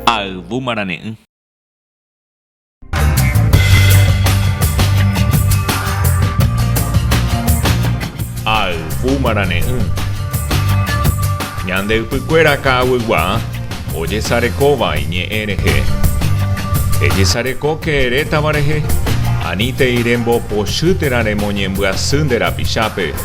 Ha ayvu marane'ỹ. Ha ayvu marane'ỹ. Ñande ypykuéra ka'aguygua ojesarekóva iñe'ẽ rehe. Ejesarekóke erétava rehe, anítei rembopochy térã remoñembyasy nde rapichápe.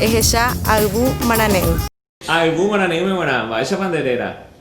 Ehecha ayvu marane'ỹ. Ayvu marane'ỹme g̃uarã, mba'éichapa nde réra?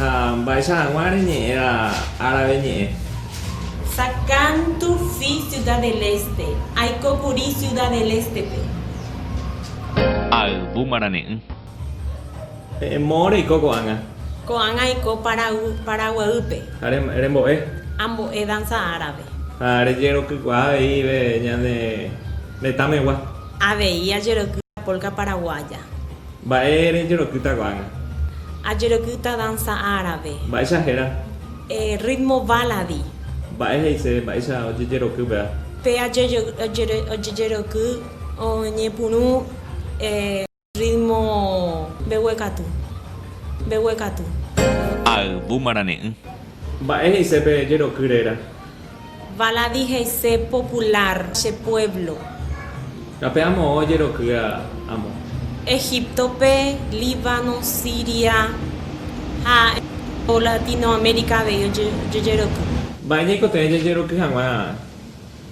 Ha mba'éicha hag̃ua reñe'ẽrã árabe ñe'ẽ. Sakán Turfí Ciudad del Este, Aiko kuri Ciudad del Este-pe. Ayvu marane'ỹ. E'ẽmó reiko ko'ág̃a. Ko'ág̃a aiko Paraguaýpe. Ha rembo'e. Ambo'e danza árabe. Ha rejerokykuaa aveive ñane retãmegua. Avei ajerokýva polka paraguaya. Mba'e rejerokýta ko'ág̃a? Ajerokýta danza árabe. Mba'éicha héra? Ritmo baladi. Mba'e he'ise mba'éicha ojejeroky péva? Pe ojejeroky oñepyrũ ritmo mbeguekatu. Mbeguekatu. Ayvu marane'ỹ. Mba'e he'ise pe jeroky réra? Valadi he'ise popular che pueblo. Tape amo ojerokýa amo. Egiptope, Líbano, Siria ha ko Latinoamérica avei ojeroky. Mba'e ñaikotevẽ jajeroky hag̃ua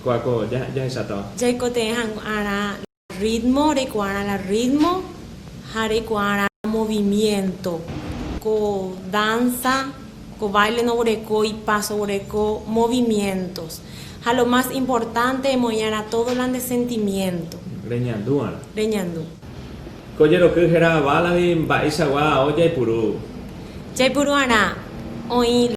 kóa ko jahechátava. Jaikotevẽ hag̃uarã. Rrítmo, reikuaárã la rrítmo ha reikuaárã la movimiénto. Ko dánsa, ko báile noguereko ipáso, oguereko movimiéntos. Ha lo más importante, emoĩarã tódo la nde sentimiénto. Reñandúarã. Reñandu. Ko jeroky héra válagui mba'eichagua ao jaipuru. Jaipuru'arã, oĩ la.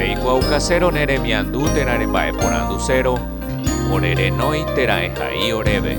Reikuaaukasérõ ne remiandu térã remba'eporandusérõ, ore renói térã ehai oréve.